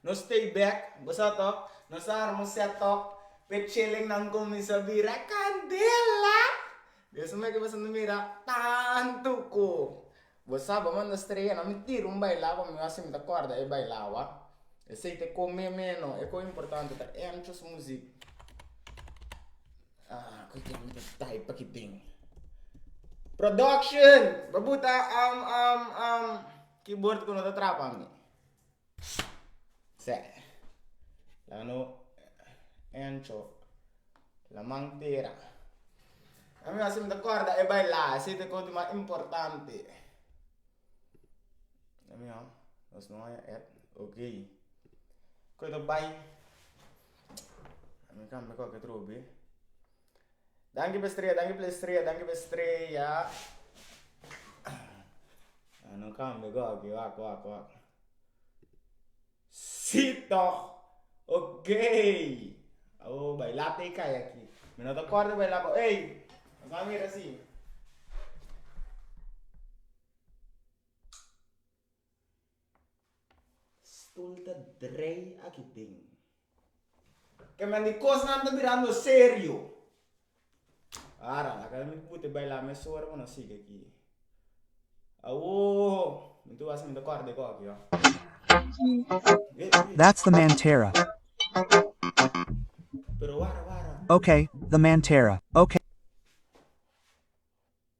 Nos stay back, bo sa to? Nos a arma un set up p'e chelennan cuminsa bira candela! Biasa meke bo siento mira tanto cu bo sa bo manda strea na mi tira un baila pa mi wak si mi ta corda e bailawa. Esey t'e cu me meno, e cu importante ta entras muziek. Ah, cu tin ta type aki tin. Production! Bo buta keyboard cu no ta traba mi. Seh. La no encho la man tera. A mi siempre ta corda e baila, ese ta e cosa mas importante. Lo mihua nos no haya ep ok. Cu ta bay, a mi cambia cualkier otro be. Danki pa e strea, danki pa e strea, danki pa e strea. Ah, no cambia goki, wak, wak, wak. Sí toch! Ok! Awo baila te kai aki. Mi no ta kòrda baila bo. Ey! Nos a mira así. Stul ta drei aki den. Ke men di kosnan ta birando serio. Ara, a keda mi ku bote baila mes ora pa no sigui aki. Awoo! Mi ta wak mi ta kòrda di koki oh. That's the man Tera. Pero wara wara. Okay, the man Tera. Okay.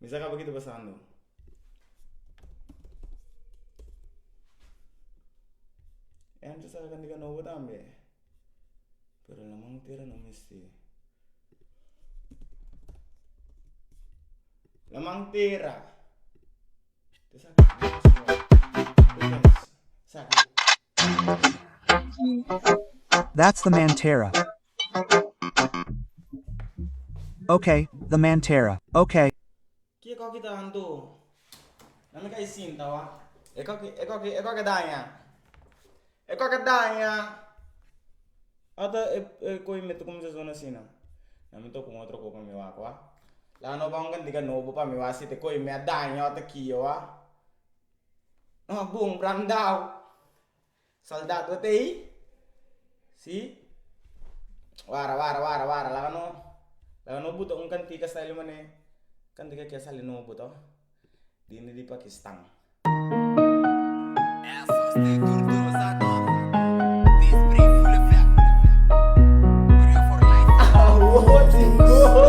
Mi sa kaba ki ta pasando. Entra sa kende ka nobo tambe pero la man tera no misti la man tera Ok, the man tera. Ok. Ki e koki ta dan do? Na mi ka i sinta wa. E koki e koki e koki a daña. E koki a daña. Ata e e koki mi ta cuminsa zona asina. Na mi ta ocu un otro koki pa mi wak wa. La no ba un kantika nobo pa mi wa si ta e koki mi a daña ota kio wa. Bo un brandau. Soldado a ta ei? Sí. Wara, wara, wara, wara, laga no, laga no buta un kantika style manera kantika kia sali no buta dindi di Pakistan. Awowo tin go!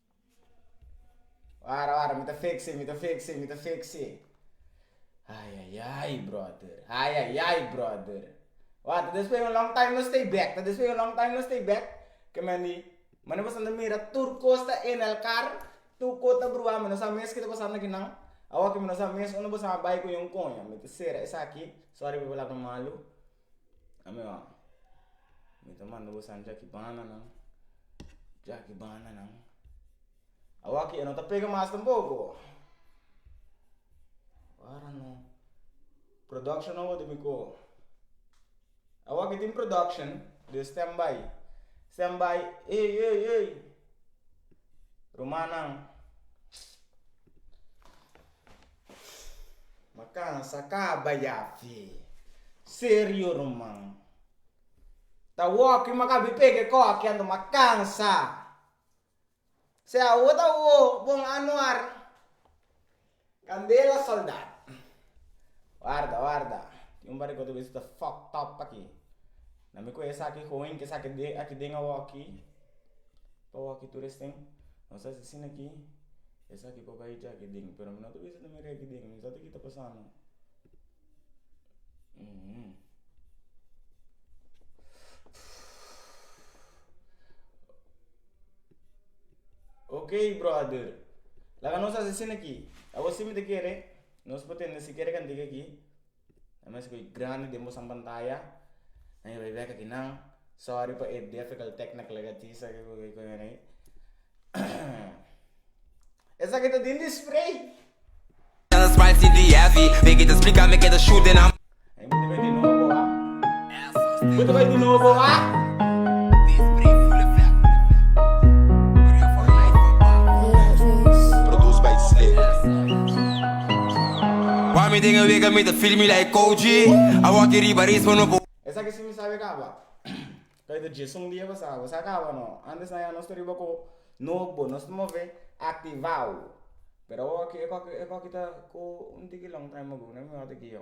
Wara wara mi ta fix'e mi ta fix'e mi ta fix'e ai ai ai brother ai ai ai brother wata ta despues di un long time no stay back ta despues di un long time no stay back kiman di mane boso anto mira tur cos ta en el car tur cos ta bruha mi no sa mes kiko ta pasando akinan awoki mi no sa mes unda boso a bai ku ña un koña mita cera esaki sorry people a habla malu. Amigonan, mi ta manda bo sandja ki bananan, djaki bananan, awa ki e no ta pega mas tampoko, wara no, production no wordo mi ko, awa ki tin production den stand by, stand by ey ey ey rumannan. Ma cansa caba ya fe. Serio ruman. Ta wokey ma caba ipega e coke ando ma cansa. Sea awo ta awo bon anuar. Candela soldad. Warda warda tin un par de cosa ta fucked up aki. Na mi cohe esaki hoen ke esaki de aki den awo aki pa awo aki tur esten nos ta haci asina aki esaki pa bai djaki den pero mi no ta bisa ta mira aki den misa ta ki ta pasando ok brother laga nos haci asina aki awo si mi ta kere nos por tende si kere kantiga aki. Nan mester bay grandi den bo san pantaya nan a bay weka aki nan sorry pa e difficult technical e gatisa aki cu bay coyona ahi esaki ta den di spray Tell us why CDFI Make it a speaker make it a shoot in a. Bo ta bai di nobo ah. Esaki si mi sabe kaba kai ta djis un dia pasado bo sa kaba no antes nan ya nos ta riba ku nobo nos ta move activao pero oki e koki e koki ta ku un tiki long time ago no mi wak ta ki yo.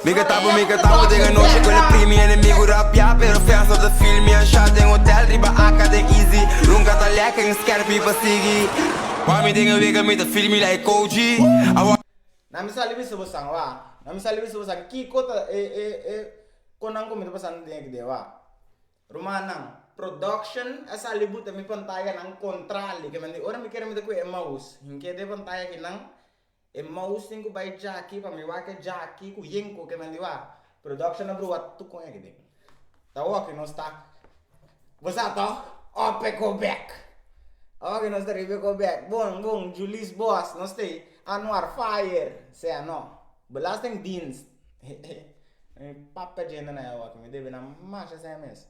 Mi ka tabo mi ka tabo den anochi con e primi enemigo rapiá pero fians no ta feel mi a sha den hotel riba aka den easy runka ta lèkè en skerp mi pa sigui wami den e wega mi ta feel mi like koji a wak. Na mi sali bisa bo san wak na mi sali bisa bo san kiko ta e e e con nan cu mi ta pasando den ekde wak rumannan production a sali buta mi pantayanan contra li kimen di ora mi kere mi ta cu e mouse hinke den pantaya kinan. E mous tin cu bay jaki pa mi wak e jaki cu yenco ke nan di wak. Production a brua tuk con eki den. Ta oki nos ta bo sa to ope go back ta oki nos ta riba e go back bon bon julis boss nos tey anuar fire sea no belasting dienst papia djente na ya oki mi debe na masha sea mes.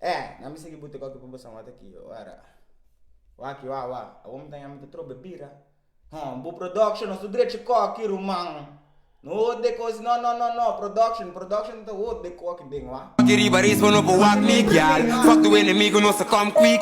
Eh, nan mi sigui bute kopi pa bo samata aki, wara. Waki wa wa, awor mi ta yama ta trobe bira. Hon, bo production nos ta drechi koki ruman. No hoor de kosi, no no no no, production, production ta hoor de koki den wa. Koki riba risba no por wak mi gyal, fuck de enemigo nos ta come quick.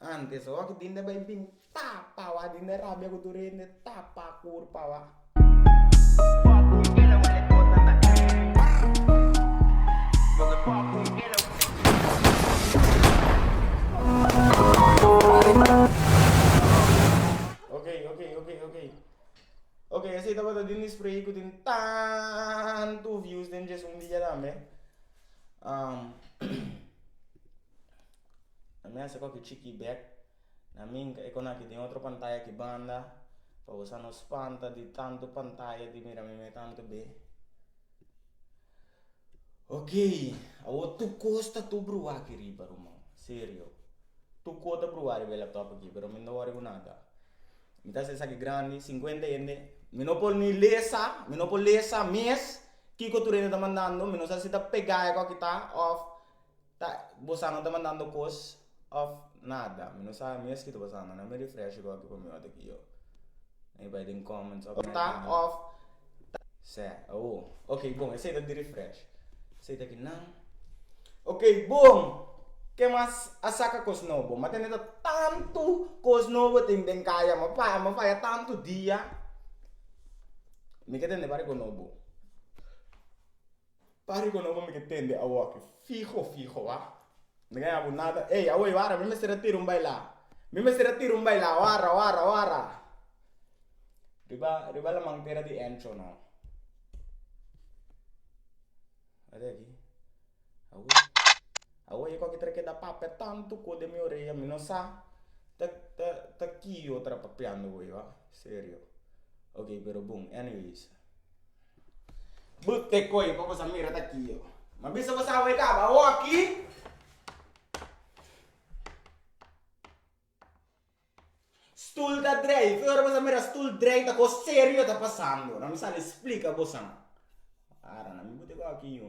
Antes o aki dinde bay bin ta pawa dinde rabia ku tur hende ta pa kur pawa. Okey okey okey okey okey esey tabata den di spray ku tin tantu views den dje su un dia tambe na mesa koki chiki i bek na minka e konanke tin otro pantaya di banda pa bo sa no spanta di tantu pantaya di mira meme tantu be ok awor tur kos ta tur bruha aki riba ruman serio tur kos ta bruha riba e laptop aki pero mi no wori ku nada mi ta haci esaki grandi cincuenta hende mi no por ni lesa mi no por lesa mes kiko tur hende ta mandando mi no sa si ta pega koki ta of Ta bo sa no ta mandando kos of nada mi no sabe mes kiko ta pasa na mi refresh ko aki pa mi ota kiyo mi bai den comments of ta of ta sè awo ok bon esei ta di refresh esei ta kinan ok bon ke mas a saka kos nobo ma tene ta tantu kos nobo tin den kaya ma pa ma faya tantu dia mi ke tende bariko nobo. Pare cu nan hopi ke tende awoki fiho fiho a no gana bo nada ey awey wara mi mester a tira un baila mi mester a tira un baila wara wara wara riba riba la mantera di encho no ade aki awey awey e koki treke da papia tanto kos den mi orea mi no sa ta ta ta ki yo ta papiando wei wa serio oke pero bon anyways. Bo te koe pa bo sa mira ta ki yo. Ma bisa bo sa wake up awoki. Stoel ta drei. Fe ora bo sa mira stoel drei ta kos serio ta pasando. Na mi sali splika bosan. Ara na mi bo te koe aki yo.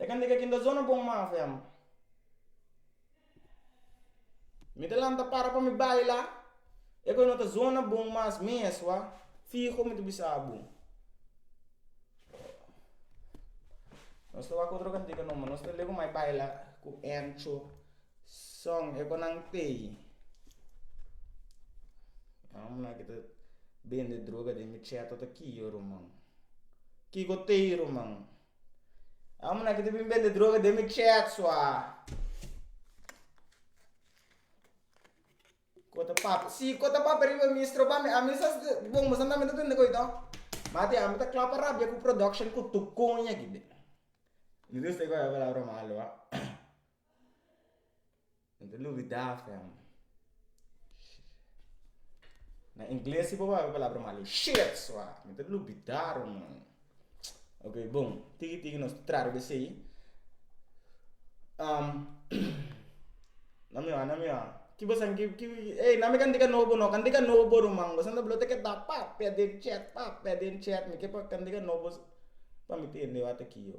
E kende ke kinda zona bon mafo ya man mi ta lanta para pa mi bai la e kue no ta zona bon mas mesua fiho mi ta bisa bo nos ta wak otro kantica no nos ta leba mai bai la ku encho Son e bo nan pei. E hombre aki ta bende droga den mi chet ota ki yo ruman. Kiko tei ruman. E hombre aki ta bin bende droga den mi chet sua. Ko ta papia si ko ta papia riba mi stroba mi ami sa bon bo sa nami ta tende ko ei to mati ami ta klapa rabia ku production ku tu koña aki be. No ta lubida fem na ingles si bo wak un palabra malo shiet suá no ta lubida rumon ok bon tiki tiki nos ta trata di esei nan mi wak nan mi wak ki bo sabi ki ey nan mi ka dika no bo no kan dika no bo ruman bo siempre lo ta keda pap pedi un chet pap pedi un chet mi ke pa kan dika no bo pa mi tende wak ta kiyo.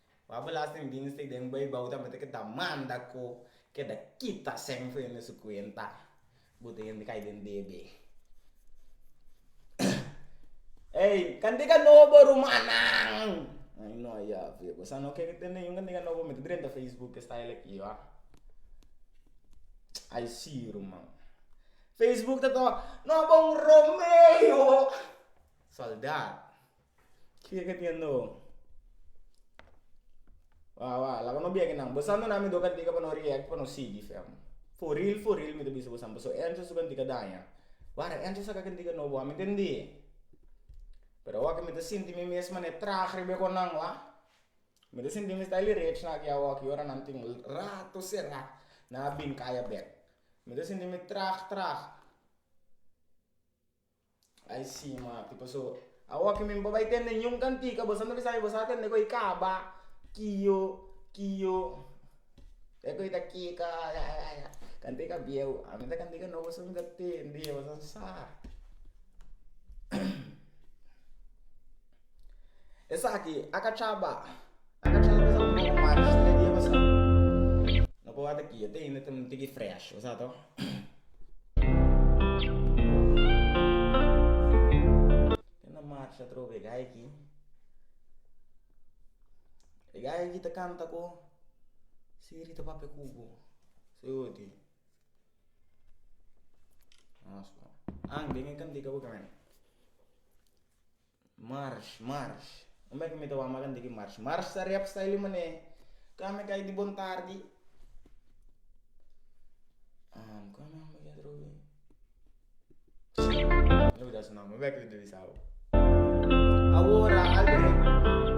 Wak belasting dinstig den Beibou tambe ta ke ta manda ku keda kita sèn fu hende su kuenta. Bo ta hende kai den debe. Ey, kandiga nobo rumannan! Ay no a yafi. Bo sa no ke tende niun kandiga nobo mete drenta Facebook ke style aki wa. Ay si ruman. Facebook ta tabata, No bon Romeo! Sòldat. Kiko ke tin no? Wah wah laga no biague nan bosa no na mi do ka diga pa no react pa no sigui fe amo for real for real mi ta bisa bosa paso enzo su kantika daña wara enzo sa ka kantika no bo ami ta indi pero awor mi ta sinti mi mes mane traha riba e konan wah mi ta sinti mi sta li rech na aki awor ora nan tin rato sera nan a bin kaya bek mi ta sinti mi traha traha. Ai sí, Mati, pasó awor ki mi bo bai tende niun kantika, boso no bisa mi bo sa tende ku ei kaba, kio, kio, e ku ei ta kika, kantika bieu, a mi ta kantika nobo boso no ta tende, boso no sa. Esaki a kacha ba. A kacha lo basa un poco mas riba media basa. No por wak aki, yo tin hende tin un tiki fresh, bo sa to. Tin na marcha atrobe e gai aki. E gai aki ta canta cu Siri ta papia cu bo. Su yo tin. Nos po. Ang, den e cantica bo caminda. Marsh, marsh. Un mei ku mi ta wak malanti ki marsh. Marsh ta rep style di mané ka mi kai di bon tardi. Am ka mi hambra yatra hopi. No bisa asina, mi wek di bisa. Awor a Albert.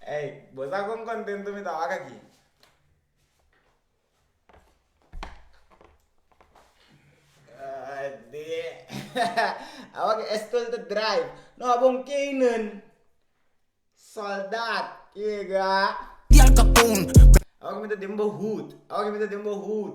Ey, bo sa con contento mi ta wak aki? Awor Estel ta draai. No a bon keinan, soldaat, yega. Awor cu mi ta den bo hoed, awor cu mi ta den bo hoed.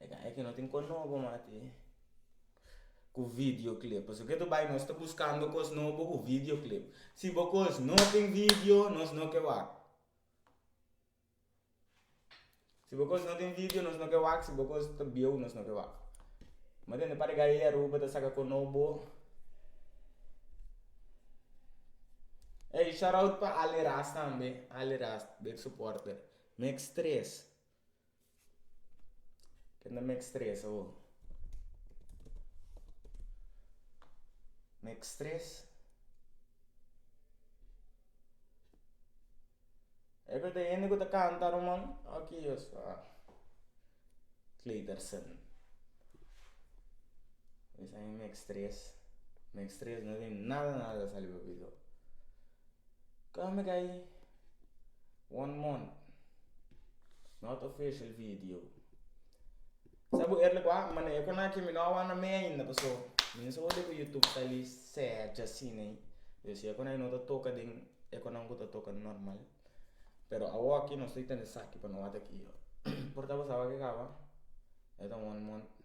E ta eke no tin kon nobo mati ku video clip pasobra ketu bai nos ta buskando kos nobo ku video clip si bo kos no tin video nos no ke wak si bo kos no tin video nos no ke wak si bo kos ta bieu nos no ke wak mi tende par di gai aruba ta saka kon nobo ey shout out pa ali ras tambe ali ras big suporter mix tres Ke na mek stres awo? Mek stres, e beta hende ku ta kanta ruman aki yos ta kleter sèn esaki mek stres, mek stres no tin nada nada sali pasobra Come gai one month not official video sa bo erle ku a mane e konai ke mi no a wanda mei ainda paso mi no sabor di ku youtube ta li seja asinei yo si e konai no ta toka den e konan ku ta toka normal pero awoki no estoy tende saki pa no wata aki yo por ta pasaba ke kaba e ta one month.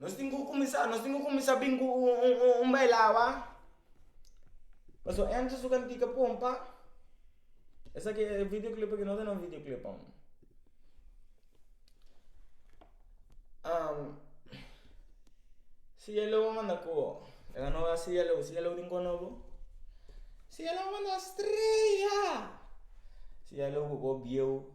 Nos tin ku kuminsá, nos tin ku kuminsá bin ku un bailawa, paso Enzo su kantika pompa, esaki e video clip aki no ta na un video clip aun, cielo a manda koho, e nan no a cielo, cielo tin koho nobo, cielo a manda estrella, cielo ku koho bieu.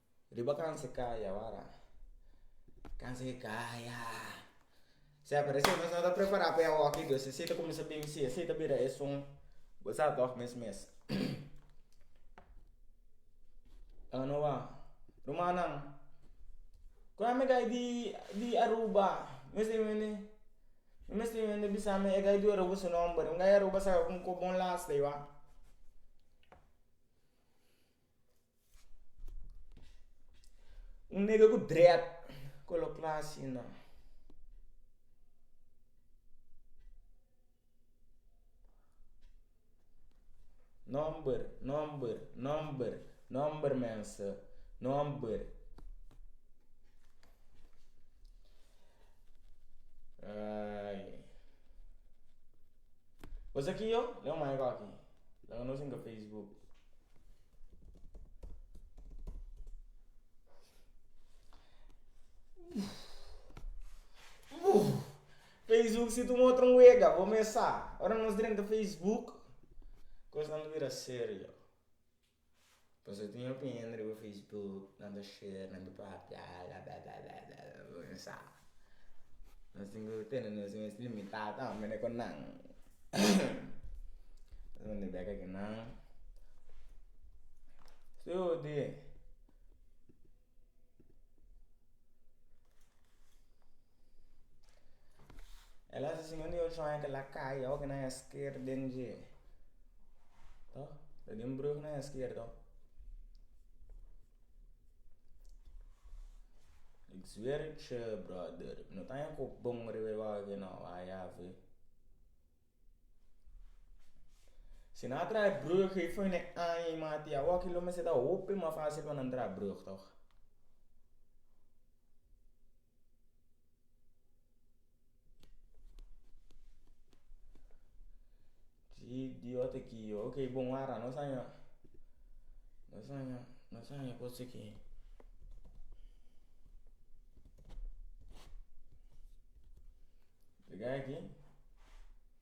Riba kansa kaya wara. Kansa ke kaya. Sea parese nos no ta prepara pa e awoki dus así ta cuminsa binsi así ta bira e sun bo sa toch mes mes anua rumannan cu a megai di aruba mes tin wende mi mes tin wende bisa mi e gai di aruba su nomber un gai aruba sa cu bo un lasta i wak. Un nega ku dread ku lo kla asina, Nòmber, nòmber, nòmber, nòmber mense, nòmber. Bo sa ki yo? Leu mai koki, laga nos den ka facebook. Facebook si ta un otro wega bo mes sa ora nos drenta facebook cosnan ta bira serio pasobra tin gente riba facebook nan ta share nan ta papia bla bla bla bo mesa. Nos tin cu tene nos mes limitá tambe cu nan. Esnan ta beka cu nan. Su di el a siña un yol shuña cu la caya oca nan a sker den dje, to ta di un brug nan a sker to. Suerte brother no ta haña cu bon riba e waga cu no a yabe. Si nan a traha brug e fo na e aña y mati y awoki lo mester ta hopi mas facil pa nan traha brug toch. Si dios ta ki yo okay bon wara nos a haña nos a haña nos a haña cos aki riga aki.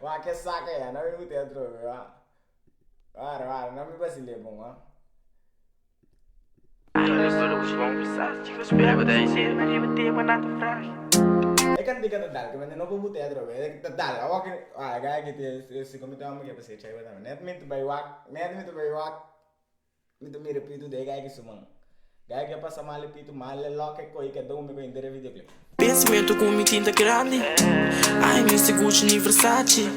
Wak ke saka ya, no mi buta ya trobe wa. Wara, wara, no mi basile bon wa. E cantica ta dal, caminda no por buta ya trobe, e ta dal, awor ke, wara, e gaya aki tin e, e siko mi ta homber ke pa ser chaiba tambe, net mi ta bay wak, net mi ta bay wak. Mi ta mira Pitu de gayke su man. Gayke a pasa male Pitu male loke e koi ke do mi pa inter e videoclip. Pensamento cu mi tin ta grandi Ay mester Gucci ni Versace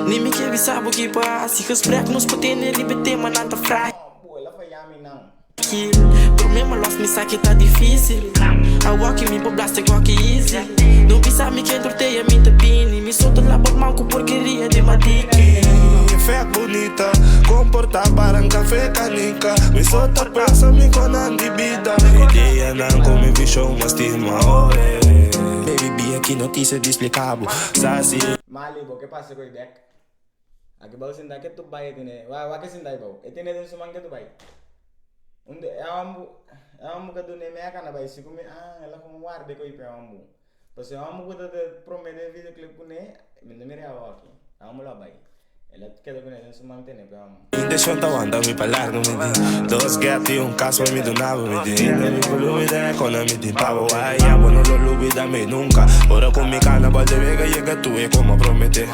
Ni mi ke bisa bo ki pa haci Gesprek nos pa tene riba e tema nan ta frágil No boe la faya mi nan. Promema los mi sa ke ta difícil Awor ke mi pa blasta e goki easy No bisa mi ken tortea mi ta bini. Soto na bo man ku porkeria di matiki. Mi fe ak bunita, komportá paran kafé kanika. Mi so ta pensa mi konan di bida. Mi ideanan ku mi vishon mas stima oe. Baby be aki no kise di spliká bo, sa si. Mali, bo ke pasa ku e bek? Aki bou sinta ke tup bai e tene wak wak e sinta bou e tene den su man ke tup bai un e awambu e awambu ka dune mea ka na bai si ku mi ah el a komo warde koi pa e awambu. Pues e homber cu ta ta prome den vida cu le cune mi no mira awoki amo lo a bay el a keda cune den su mantene pe amo. Intenshon ta wanta mi pa largo mi tin dos gèt i un kas pa mi dunaba mi tin hinda di pulubi den e kona mi tin pabo wai amo no lo lubi da mi nunka ora ku mi kana bòt de wega yega tu e kuma promete.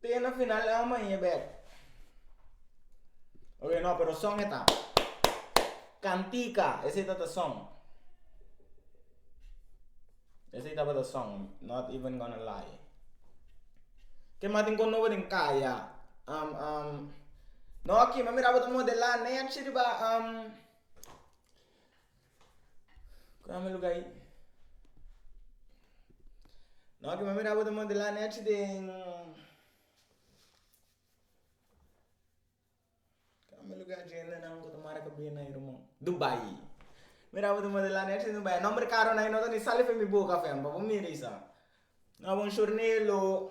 Te na final el man e bek. Ok, no, pero son eta. Cantica, ese está the song. Ese está the song, not even gonna lie. Que más tengo novo en calla. Um, um, no, aquí me miraba de modelar, nem aquí riba, um, Kura mi luga ayi. No ki mi a mira bo ta modelá nèchi den. Kura mi luga djendenan ku ta mara kabena ayi rumon. Dubai. Mira bo ta modelá nèchi den dubai. Nòmber karunan ayi no ta ni sali fen mi boka fen pa bo mira esaki. No bo un shornelo.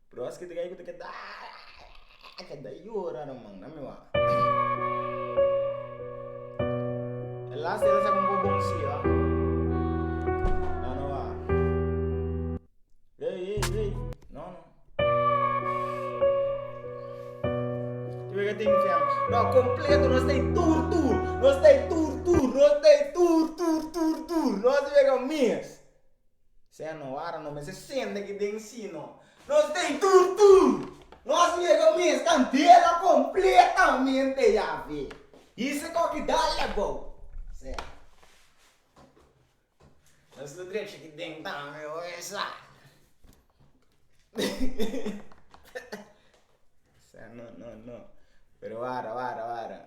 Pero aski ta gei ku ta ke da aaaaaa ke da yora no man na mi wak. E last e sa konko bon si a nan no wak ey ey ey no no Yu wek a tin fiang no a kompleto no stay tur tur no stay tur tur no stay tur tur tur tur no si wek a miss. Sea no wara no mester sende ki den sino nos den tur tur nos mega mes ta ntera completamente Yahve hise ko ki dal ebou sea nos lo drecha ki den tambe oe sa sea no no no pero wara wara wara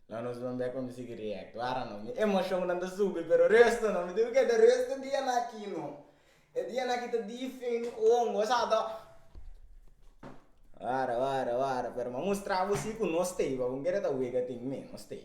No nos bambé con mi sigui riecto ara no mi emocionnan ta subi pero resto no mi dibi ke ta resto dia na aki no e dia na aki ta dia fey no hongo sa ta wara wara wara pero ma mustra bo si cu no stay papo kere ta wega tin mi no stay.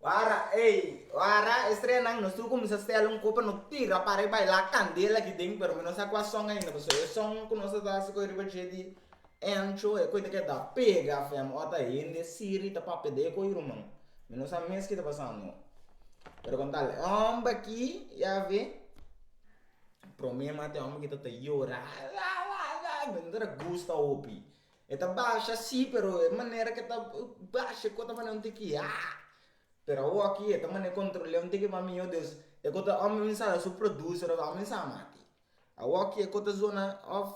Wara ey, wara e streanan nos tur cuminsa stela un copa no tira para y baila candela aki den pero mi no sa cua son ainda pasobra e son cu nos a ta haci cu e riba dje di encho e coita cu e ta pega afem o ta hende siri ta papia de eco y ruman mi no sa mes keta pasando pero con tal homber aki ya we prome mate homber aki ta ta yora mi no ta gusta hopi. E ta basha si pero e manera ke ta basha e kota manera un tin ki haa pero awo aki e ta manera kontrole un tin ki mami yo Dios e kota a mi sa su producer of a mi sa mati awo aki e kota zona of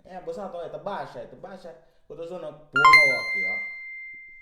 e a bo sa e ta basha e ta basha e kota zona pon awo aki.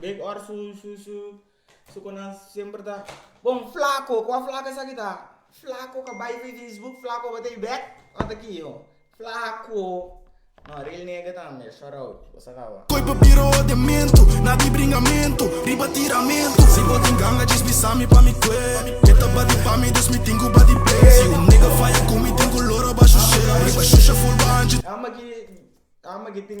Bek ora su su su su konan semper ta bon flaco kua flaco esaki ta flaco ka bai fi facebook flaco ba tei bek ora ta ki ho flaco no real nega ta mira short out bo sa kaba. Koi pa bira odiamento na di bringamento riba tiramento si bo tin ganga djes bisa mi pa mi kue e ta bati pa mi dus mi tin ku bati p'e si un nega faya ku mi tin ku loro ba shushe riba shusha full ba anchi Ama ki ama ki tin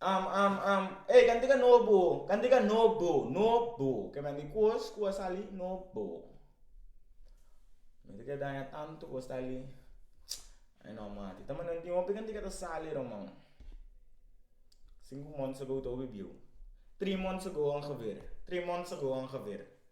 Am am am Ey kantika no bo kantika no bo no bo kieman di kos ku a sali no bo mi ta ke daña tantu ku a sali ai no mati ta manan tin hopi kantika ta sali roman sinku months ago ta hopi biu three months ago ongeveer three months ago ongeveer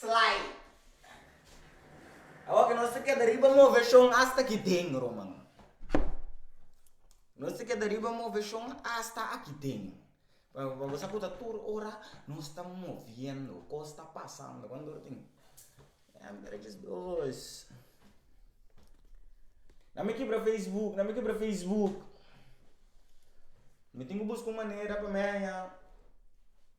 Slide. Awor ke nos ta keda riba move shon asta aki den, Romano. Nos ta keda riba move shon asta aki den. Pasobra bo sa ku ta tur ora nos ta moviendo, kos ta pasando. Na mi kibra facebook, na mi kibra facebook. Mi tin ku buska un manera pa mi haña.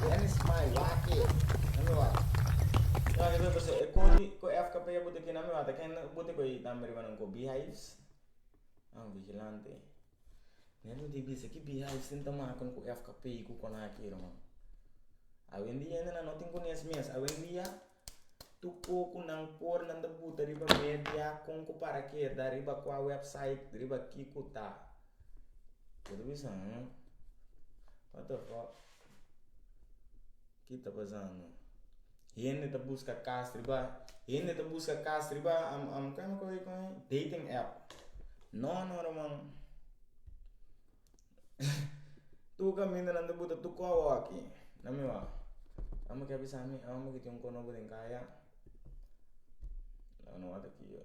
Dennis mai wak e na mi wak. Wak e pasa e kori ku FKP a buti ki na mi wak ta ken a buti ku ei tambe riba nan ku beehives? Nan ku vigilante. Nan no di bisa ki beehives tin ta maka ku FKP ku konake riba. Awendia no tin ku ni es mes awendia. Tu poku nan por nan ta buta riba media kon ku para keda riba kua website riba ki ku ta kin ta bisa nan what the fuck ki ta pasando hende ta buska kas riba hende ta buska kas riba dating app no no no man. Tur camindanan ta buta tur coho aki na mi wak amo kier bisami amo kier tin un coho nobo den caya no no wata kier yo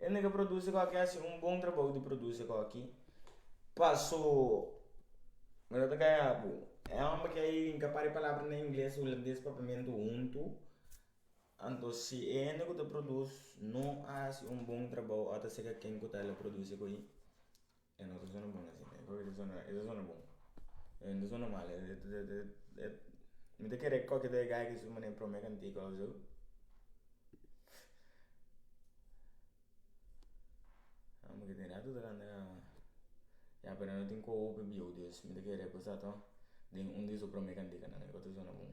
Hende ke produce kòk a hasi un bon trabou di produce kòk. Paso mi no ta gaya bo. E hòmber ke ey nka para e palabra na ingles, hulandes papamento huntu. Anto si e hende ku ta produce no a hasi un bon trabou ora ta sega ken ku ta la produce ku ei. E no ta zona bon asi ne koke ta zona e ta zona bon e no ta zona mal mi ta kere koke ta yega aki su manera prome kantiku a wazoo amo ke tin rato ta kanta ka ma ya pero no tin ku a hopi biu dios mi ta kere ku sa to den un di su prome kantikanan e ku ta zona bon.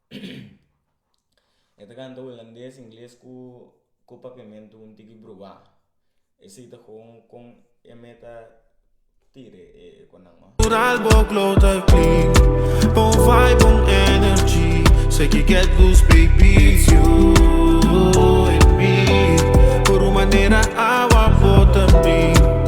e ta kanta hulandes, ingles ku ku papiamentu un tiki bruha e si ta kon kon e meta tira e konnan ho.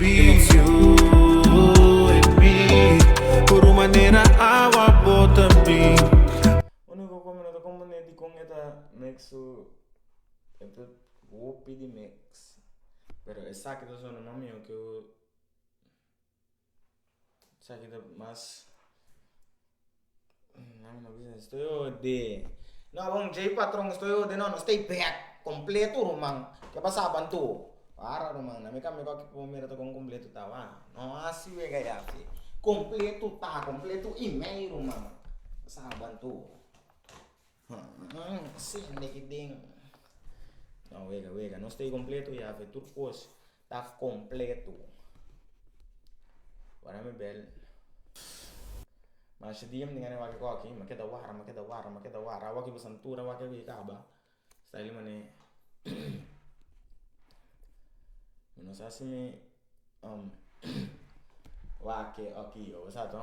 It's you and me Por un manera awa bota mi. Unico con mi no ta comprende dicon e ta make su e ta hopi di mix pero esaki ta sona mas miho ke. Esaki ta mas djei patron sto e ode no nos ta e bek completo ruman ke pasaba anto wara ruman na mi kami ko aki pumi mira ta kon completo ta wak no hasi wega yaki completo ta completo i mei ruman pasaba anto. Sende ki den. No wega wega nos ta e kompleto Yave tur kos ta kompleto ora mi bel masha dia mi tin gana di wak e koki ma keda wara ma keda wara ma keda wara awaki pasan tur awaki awe kaba sta li mane mi no sa si mi wak e oki yo bo sa to.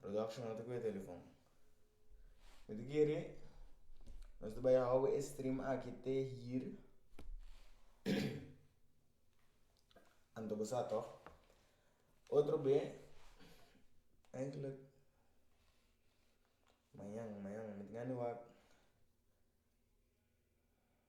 Production no ta cu e telefon. Mi ta kere nos ta bai hawe e stream aki te hir anto bo sa toch? Otro be eigenlijk mañan mañan mi ta gana di wak.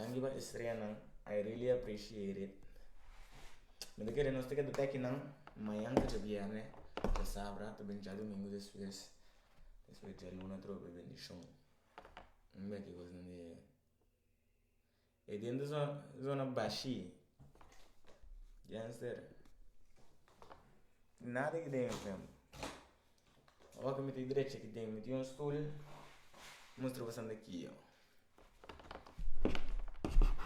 Nan di ban estrella nan I really appreciate it mi ta kere nos ta keda teki nan mañan ta dje bierne ta sabra ta ben dje domingo despues despues dje luna ta robi bendicion mi mira ki cos nan di e dende zona bashi genster nada ki den enfrente. Oca mi ta drecha aki den mi tin un stul mustra boso anda ki yo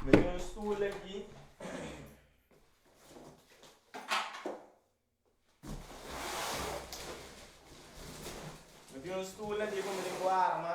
mi tin un stul aki mi tin un stul aki ku mi tin ku arma.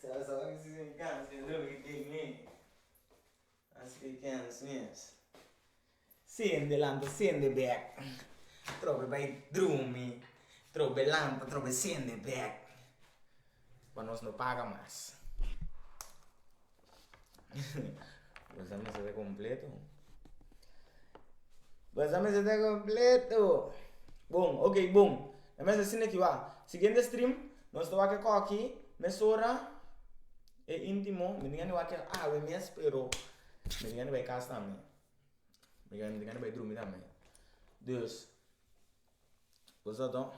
Sa a sa aki si tin kans pa e droge ki dik mi a hasi kens mes. Sende lampa sende bek trobe bai drumi trobe lampa trobe sende bek pa nos no paga mas. Bo sa mester ta completo. Bo sa mester ta completo. Bon, ok bon. Nan mester sin aki waha. Siguiente stream, nos ta wak e koki mesora e intimo. Mi tin yanda wak kier awe mes, pero mi tin yanda bai casa tambe. Mi tin yanda bai drumi tambe. Dus, bo sa to.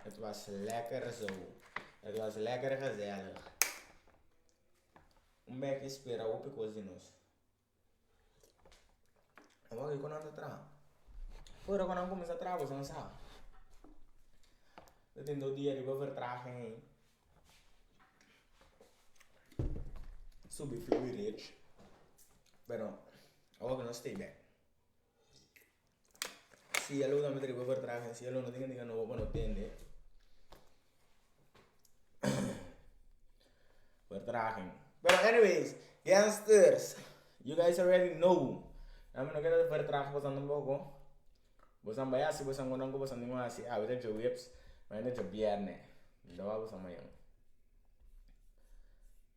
Het was lekker zo. Het was lekker gezellig. Un bèk i spera hopi kos di nos. A wak kiko nan ta traha. Ku ora ku nan kuminsá traha boso nan sa ku tin dos dia riba vertraging ei. Subi flow i rech, pero a wak nos stay bèk. Cielo tambe ta riba vertraha en cielo no tin kende no bo no tende vertraha pero anyways gangsters you guys already know nan mi no quiero vertraha cosnan tampoco boes nan bay hasi boes nan contan cu bosan tin un hasi awe ta dje wipes mañana ta dje bierne mi ta wak bosan mañana.